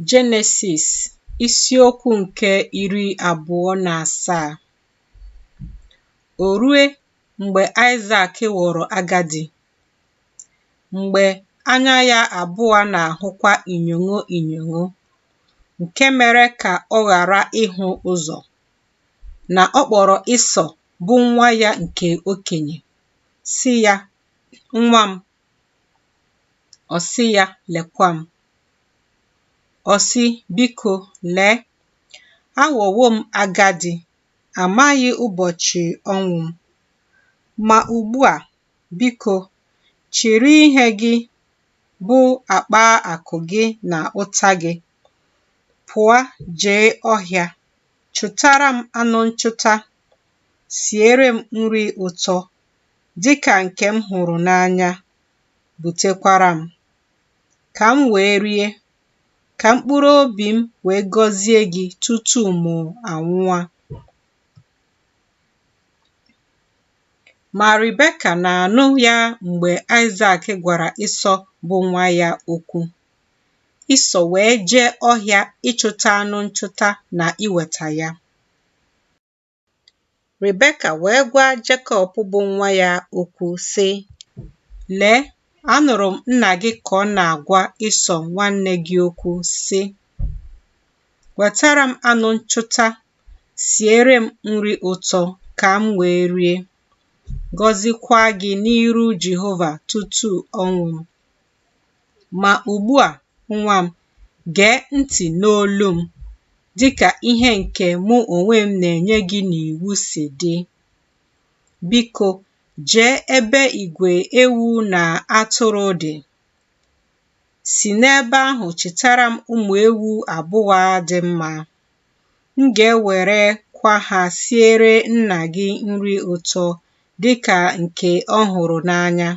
Jenesis isiokwu nke iri abụọ na asaa O rue mgbe Aịsak ghọrọ agadi, mgbe anya ya abụọ na-ahụkwa inyogho inyogho, nke mere ka ọ ghara ịhụ ụzọ, na ọ kpọrọ Ịsọ bụ nwa ya nke okenye, sị ya, Nwa m, Ọ sị ya, Lekwa m. Ọ sị, Biko, lee, aghọwo m agadi, amaghị ụbọchị ọnwụ m. Ma ugbu a, biko, chịrị ihe gị bụ akpa akụ gị na ụta gị, pụa jee ọhịa, chụtara m anụ nchụta, siere m nri ụtọ, dị ka nke m hụrụ n'anya butekwara m, ka m wee rie, ka mkpụrụ obi m wee gọzie gị tutu mụ anwụa. Ma Rebeka na-anụ ya mgbe Aịsak gwara Ịsọ bụ nwa ya okwu. Ịsọ wee jee ọhịa ịchụta anụ nchụta na iweta ya. Rebeka wee gwa Jekọb bụ nwa ya okwu, sị, Lee, anụrụ m nna gị ka ọ na-agwa Ịsọ nwanne gị okwu, sị, Wetara m anụ nchụta, siere m nri ụtọ ka m wee rie, gọzikwa gị n'iru Jehova tutu ọnwụ m. Ma ugbu a, nwa m, gee ntị n'olu m, dị ka ihe nke mụ onwe m na-enye gị n'iwu si dị. Biko, jee ebe igwe ewu na atụrụ dị. Si n'ebe ahụ chịtara m ụmụ ewu abụọ dị mma. M ga-ewerekwa ha siere nna gị nri ụtọ dị ka nke ọ hụrụ n'anya.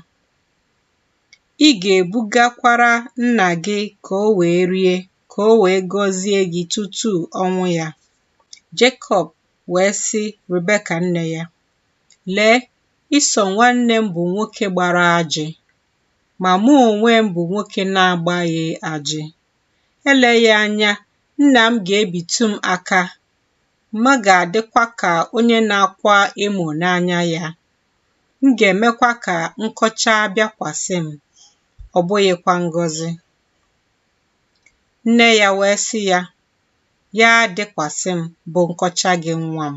Ị ga-ebugakwara nna gị ka o wee rie, ka o wee gọzie gị tutu ọnwụ ya. Jekọb wee sị Rebeka nne ya, Lee, Ịsọ nwanne m bụ nwoke gbara ajị, ma mụ onwe m bụ nwoke na-agbaghị ajị. Eleghị anya, nna m ga-ebitu m aka, m ga-adịkwa ka onye na-akwa emo n'anya ya. M ga-emekwa ka nkọcha bịakwasị m, ọ bụghịkwa ngọzi. Nne ya wee sị ya, Ya dịkwasị m bụ nkọcha gị nwa m.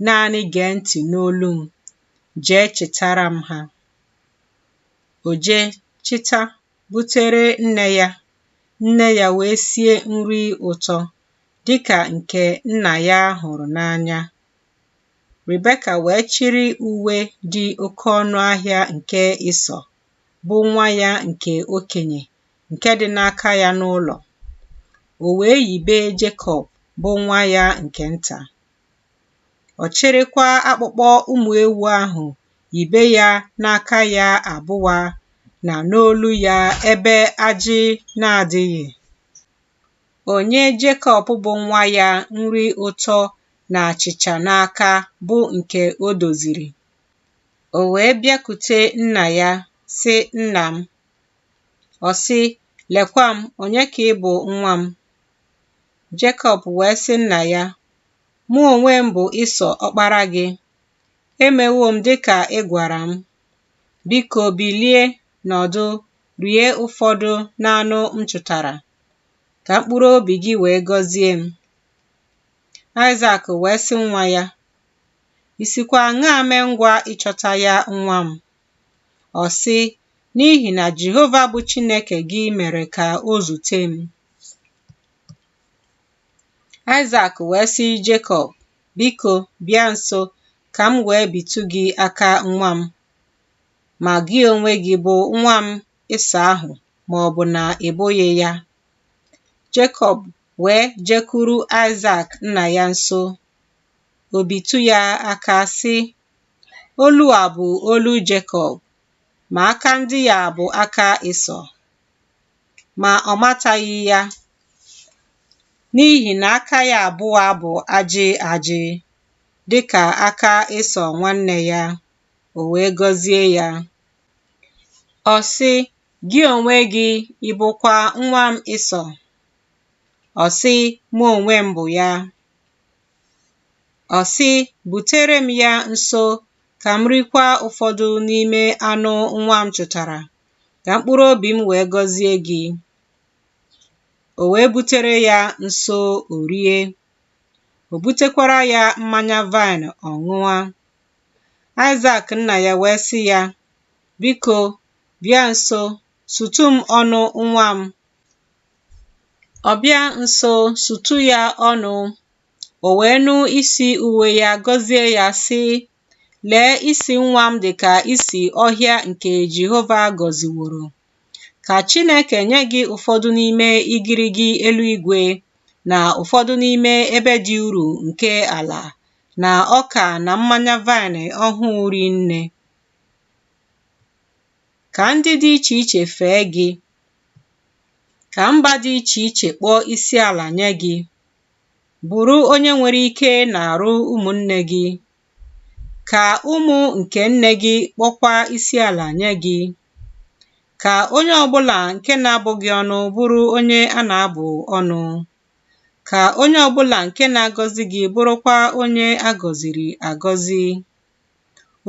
Naanị gee ntị n'olu m, jee chịtara m ha. O jee chịta butere nne ya, nne ya wee sie nri ụtọ dịka nke nna ya hụrụ n'anya Rebeka wee chịrị uwe dị oke ọnụ ahịa nke Ịsọ, bụ nwa ya nke okenye, nke dị n'aka ya n'ụlọ. O wee yibe Jekọb, bụ nwa ya nke nta. Ọ chịrịkwa akpụkpọ ụmụ ewu ahụ yibe ya n'aka ya abụa na n'olu ya ebe ajị na-adịghị. O nye Jekọb bụ nwa ya nri ụtọ na achịcha n'aka bụ nke o doziri. O wee bịakute nna ya, sị, Nna m. Ọ sị, Lekwa m, onye ka ị bụ nwa m? Jekọb wee sị nna ya, Mụ onwe m bụ Ịsọ ọkpara gị. Emewo m dị ka ị gwara m. Biko bilie nọdụ rie ụfọdụ n'anụ m chụtara, ka mkpụrụ obi gị wee gọzie m. Aịzak wee sị nwa ya, I sikwa aṅaa mee ngwa ịchọta ya nwa m? Ọ sị, N'ihi na Jehova bụ Chineke gị mere ka o zute m. Aịzak wee sị Jekọb, Biko, bịa nso ka m wee bitụ gị aka nwa m. Ma gị onwe gị bụ nwa m Ịsọ ahụ ma ọ bụ na ị bụghị ya, Jekọb wee jekwuru Aịzak nna ya nso, o bitụ ya aka sị, Olu a bụ olu Jekọb, ma aka ndị a bụ aka Ịsọ. Ma ọ mataghị ya, n'ihi na aka ya abụọ bụ ajị ajị, dị ka aka Ịsọ nwanne ya, o wee gọzie ya. Ọ sị, Gị onwe gị ị bụkwa nwa m Ịsọ? Ọ sị, Mụ onwe m bụ ya. Ọ sị, Butere m ya nso ka m rikwa ụfọdụ n'ime anụ nwa m chụtara, ka mkpụrụ obi m wee gọzie gị. O wee butere ya nso o rie. O butekwara ya mmanya vaịn ọ ṅụa. Aịzak nna ya wee sị ya, Biko, Bịa nso, sutu m ọnụ nwa m. Ọ bịa nso, sutu ya ọnụ. O wee nụ isi uwe ya, gọzie ya, sị, Lee, isi nwa m dị ka isi ọhịa nke Jehova gọziworo. Ka Chineke nye gị ụfọdụ n'ime igirigi eluigwe na ụfọdụ n'ime ebe dị uru nke ala na ọka na mmanya vaịn ọhụụ rinne. Ka ndị dị iche iche fee gị, ka mba dị iche iche kpọọ isi ala nye gị, bụrụ onye nwere ike n'arụ ụmụnne gị, ka ụmụ nke nne gị kpọkwa isi ala nye gị, ka onye ọ bụla nke na-abụ gị ọnụ bụrụ onye a na-abụ ọnụ, ka onye ọ bụla nke na-agọzi gị bụrụkwa onye a gọziri agọzi.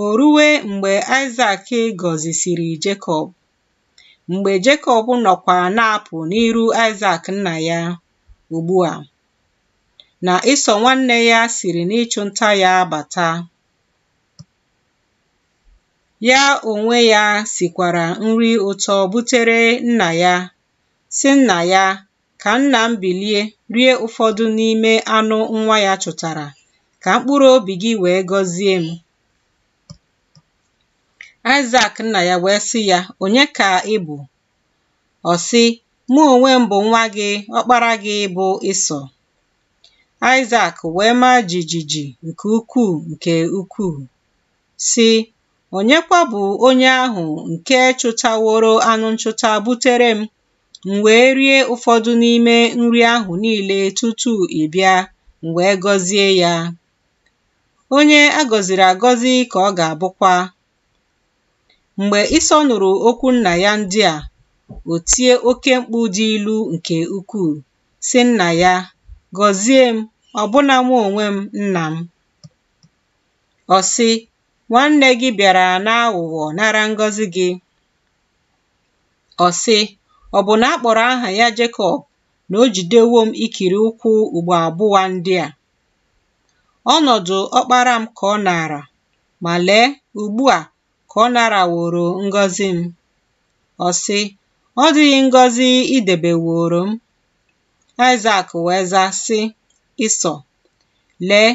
O rue mgbe Aịsak gọzisiri Jekọb, mgbe Jekọb nọkwa na-apụ n'iru Aịsak nna ya ugbu a, na Ịsọ nwanne ya siri n'ịchụ nta ya bata, ya onwe ya sikwara nri ụtọ butere nna ya, sị nna ya, Ka nna m bilie rie ụfọdụ n'ime anụ nwa ya chụtara, ka mkpụrụ obi gị wee gọzie m. Aịsak nna ya wee sị ya, Onye ka ị bụ? Ọ sị, Mụ onwe m bụ nwa gị, ọkpara gị bụ Ịsọ. Aịsak wee maa jijiji nke ukwuu nke ukwuu, sị, Onyekwa bụ onye ahụ nke chụtaworo anụ nchụta butere m M wee rie ụfọdụ n'ime nri ahụ niile tutu ị bịa, m wee gọzie ya. Onye a gọziri agọzi ka ọ ga-abụkwa. Mgbe Ịsọ nụrụ okwu nna ya ndị a, o tie oke mkpu dị ilu nke ukwuu, sị nna ya, Gọzie m, ọbụna mụ onwe m, nna m. Ọ sị, Nwanne gị bịara n'aghụghọ nara ngọzi gị. Ọ sị, Ọ bụ na a kpọrọ aha ya Jekọb na o jidewo m ikiri ụkwụ ugbo abụa ndị a? Ọnọdụ ọkpara m ka ọ naara, ma lee, ugbu a ka ọ naraworo ngọzi m. Ọ sị, Ọ dịghị ngọzi i debeworo m? Aịsak wee zaa, sị Ịsọ, Lee,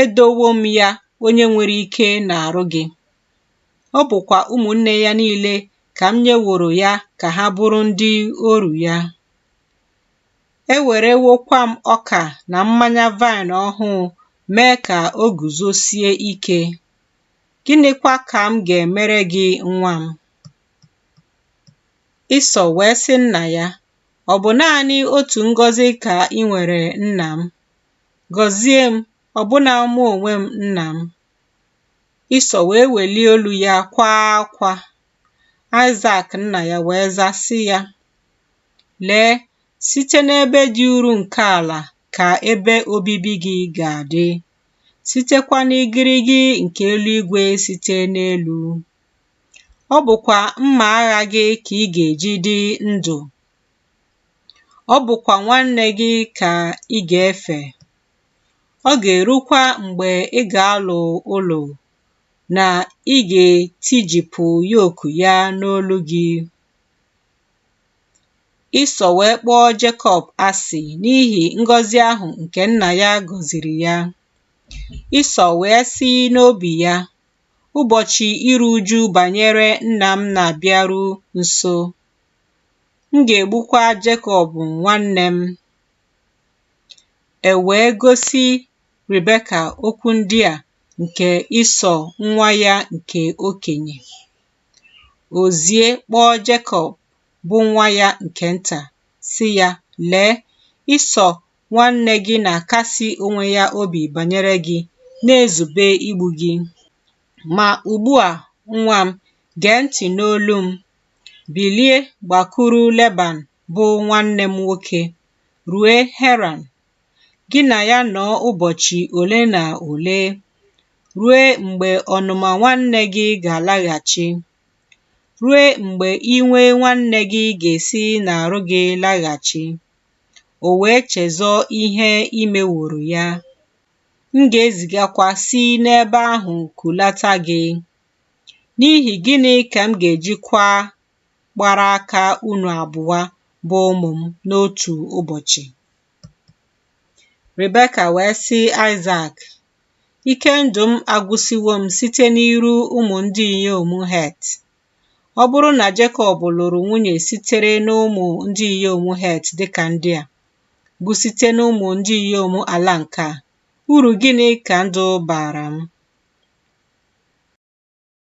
Edowo m ya onye nwere ike n'arụ gị, ọ bụkwa ụmụnne ya niile ka m nyeworo ya ka ha bụrụ ndị oru ya. Ewerewokwa m ọka na mmanya vaịn ọhụụ mee ka o guzosie ike. Gịnịkwa ka m ga-emere gị nwa m? Ịsọ wee sị nna ya, Ọ bụ naanị otu ngọzi ka i nwere nna m, Gọzie m, ọbụna mụ onwe m, nna m. Ịsọ wee welie olu ya kwaa akwa. Aịzak nna ya wee zaa sị ya, Lee, site n'ebe dị uru nke ala ka ebe obibi gị ga-adị, sitekwa n'igirigi nke eluigwe site n'elu. Ọ bụkwa mma agha gị ka ị ga-eji dị ndụ. Ọ bụkwa nwanne gị ka ị ga-efe. Ọ ga-erukwa mgbe ị ga-alụ ụlọ na ị ga-etijipụ yoku ya n'olu gị. Ịsọ wee kpọọ Jekọb asị n'ihi ngọzi ahụ nke nna ya gọziri ya. Ịsọ wee sị n'obi ya, Ụbọchị iru uju banyere nna m na-abịaru nso. M ga-egbukwa Jekọb nwanne m. E wee gosi Rebeka okwu ndị a nke Ịsọ nwa ya nke okenye. O zie kpọọ Jekọb bụ nwa ya nke nta, sị ya, Lee, Ịsọ nwanne gị na-akasi onwe ya obi banyere gị, na-ezube igbu gị. Ma ugbu a, nwa m, gee ntị n'olu m, Bilie gbakuru Leban bụ nwanne m nwoke, rue Heran. Gị na ya nọọ ụbọchị ole na ole, rue mgbe ọnụma nwanne gị ga-alaghachi, rue mgbe iwe nwanne gị ga-esi n'arụ gị laghachi, o wee chezọọ ihe i meworo ya. M ga-ezigakwa si n'ebe ahụ kulata gị. N'ihi gịnị ka m ga-ejikwa gbara aka unu abụa bụ ụmụ m n'otu ụbọchị? Rebeka wee sị Aịzak, Ike ndụ m agwụsiwo m site n'iru ụmụ ndị inyom Het. Ọ bụrụ na Jekọb lụrụ nwunye sitere n'ụmụ ndị inyom Het dịka ndị a, bụ site n'ụmụ ndị inyom ala nke a, Uru gịnị ka ndụ baara m?